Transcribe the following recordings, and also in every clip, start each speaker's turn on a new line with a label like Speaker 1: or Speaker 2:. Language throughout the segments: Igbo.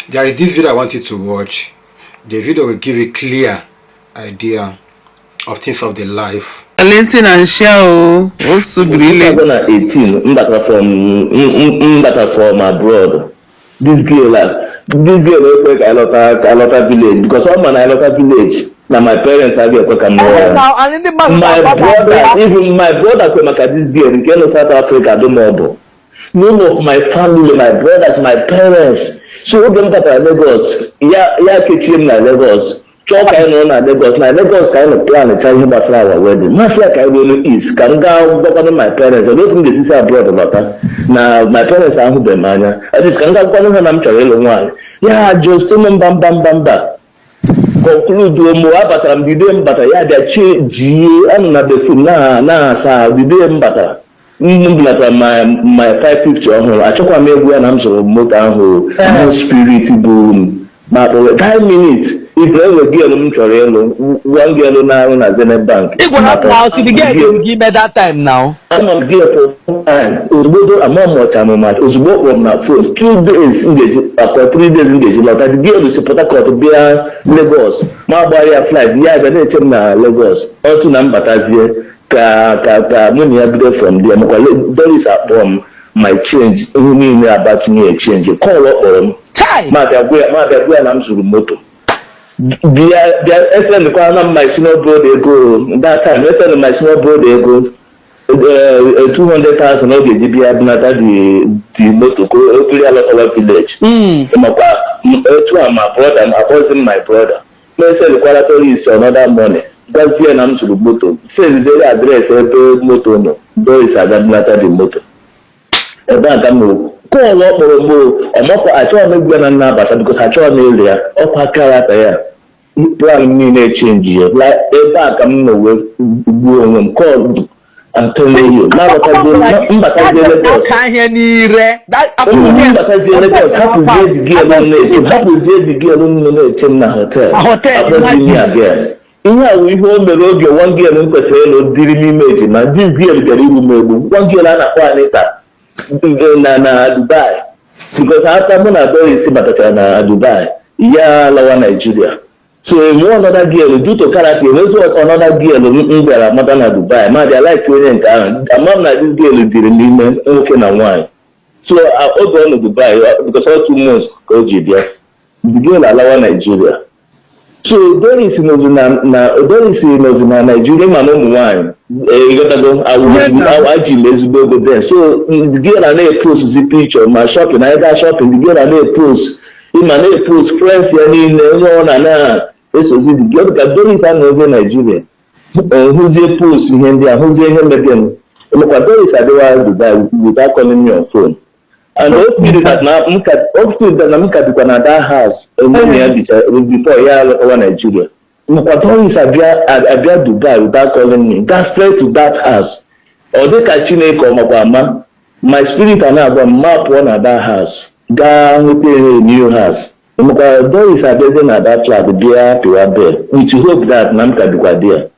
Speaker 1: there is this video i want you to watch the video will give you clear idea of things of the life listen and
Speaker 2: share o o subiri ile 2018 mbata
Speaker 3: from mbata from abroad this girl this girl ekwe ka alọta ka alọta village because ọ ma na alọta village na my parents adịghị ekwe ka m rụọ ya my brother even my brother kwe maka this girl nke nọ south africa dụmọbụ none of my family my brothers my parents so oge m batara Lagos ya ya kechie m na Lagos chọọ ka anyị nọrọ na Lagos na Lagos ka anyị nọ plancha ihe gbasara our wedding m asị ya ka anyị ruo n'East ka m gaa gwakwanụ my parents olee otu m ga-esi si abroad lọta na my parents ahụbeghị m anya at least ka m gaa gwakwanụ ha na m chọrọ ịlụ nwaanyị ya ajụ sị m mba mba mba mba konkluduo m abatara m the day m batara ya bịa chenjie anọ na bathroom na-asa ahụ the day m batara m bulatara my 550 ọhụrụ achọkwa m ịgwa ya na m zụrụ moto ahụ no spirit bụ ma kpọrọ 10 minutes ife enwe girl m chọrọ ịlụ one girl na-arụ na Zenith Bank Ị gwara m na ọ sị gị gị ime that time now. Anọ m gịnị for long time ozugbo do ama m ọcha m mmadụ ozugbo ọ kpọrọ m na phone two days m ga-eji ọkwa three days m ga-eji lọta the girl si Port Harcourt bịa Lagos m agbara ya flight ya abịa na-eche m na Lagos otu na m batazie ka ka ka mụ na ya bido from there makwa Le- Doris akpọrọ m m achange ihe niile abatụnye change call ọ kpọrọ m Chai! m abịa gwa ya m abịa gwa ya na m zụrụ moto bịa bịa esendịkwara na my senior brother ego that time esendị my senior brother ego eh, eh, 200,000 ọ ga-eji bịa bunata the the moto ka o buru ya lọtawa village Mm. makwa m- etu a my brother m akpọzi m my brother m esendịkwara Doris another money gwazie na m zụrụ moto sendịziere address ebe moto nọ Doris aga bunata the moto ebe a ka m na-ekwu call ọ kpọrọ m ị makwa achọghị m ịgwa ya na m na-abata because achọghị m ịlụ ya ọkwa character ya plan m niile chenjiela ebe a ka m nọ wee gbuo onwe m call I tell you m batazie Lagos ka ihe n'ire m batazie Lagos hapụzie the girl na-eche hapụzie the girl na na-eche m na hotel Hotel, akpọzi m ya girl Ihe a wụ ihe o mere oge nwa girl m kwesịrị ịlụ dịrị m ime ejima. This girl bịara igbu m egbu. Nwa girl a na-akpọ Anita eh, na na Dubai because after mụ na Doris batachara na Dubai ya lawa Nigeria so enwe another girl due to character enwezi another girl m m bịara mata na Dubai m abịa like onye nke ahụ ama m na this girl dịrị m ime nwoke na nwaanyị so a- oge ọ nọ Dubai ọ- because ọ two months ka o ji bịa the girl alawa Nigeria so Doris nọzi na na Doris nọzi na Naijiria ma na ụmụ nwaanyị ịghọtago eji m ezigbo ego then so the girl na na-epost picture ma shopping na ebe shopping the girl na na-epost ịma na-epost friends ya niile onye ọ na na-esozi the girl dịka Doris anọzie Naijiria hụzie post ihe ndị a hụzie ihe mebienụ emekwa Doris abịawa Dubai without calling me on phone and o siri that na m ka o siri that na m ka bikwa na that house mgbe na ya bicha before ya alọtawa Nigeria makwa Doris abịa abịa Dubai without calling me gaa straight to that house ọ dị ka Chineke ọ makwa ama my spirit a na-agwa m ma pụọ na that house gaa nweta ihe new house makwa Doris abịazie na that flat bịa pịwa bell with hope that na m ka bikwa there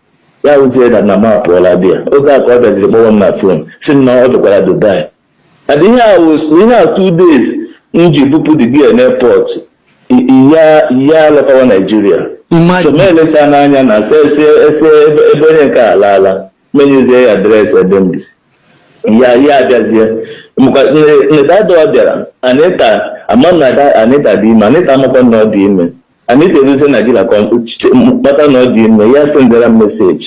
Speaker 3: ya wụzie that na m apụọla there oge a ka ọ bịaziri kpọwa m na phone sị m na ọ dịkwa na Dubai And ihe a was ihe a two days m ji bupụ the girl n'airport ya ya alọtawa Nigeria so Imagine. m elecha n'anya na since ebe ebe onye nke a alaala m enyezie ya address ebe m bi ya ya abịazie maka nedadọ bịara Anita ama m that Anita dị ime Anita amakwa na ọ dị ime Anita eruzie Nigeria ka ọ- ch- mata na ọ dị ime ya esendara m message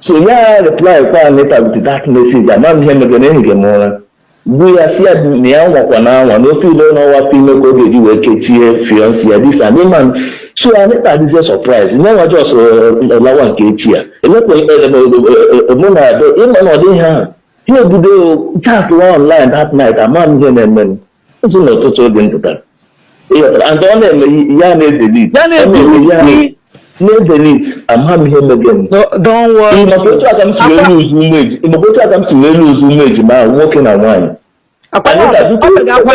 Speaker 3: so ya replykwa Anita with that message ama m ihe mege na ehige m ụra bụ ya sị ya na ya anwakwana anwa na ọ feel na ọ nweta afọ ime ka ọ ga-eji wee kechie fiancé ya this and man so Anita dịzie surprise nye nwa just lawa nke echi ya elekwa mụ na Ado ịma na ọ dịghị ahụ ihe ebido chatwa online that night ama m ihe na-eme m M sị na ọtụtụ oge m pụta. And ọ na-eme ya na-edelete. Ya na-edelete. Na-edelete, ama m ihe mege m. Don't
Speaker 2: worry. Maka otu aka m si
Speaker 3: wee lose ụmụ ejima, maka otu aka m si wee lose ụmụ ejima ahụ nwoke na
Speaker 2: nwaanyị.
Speaker 3: Akwa ya, ọ ga-agwa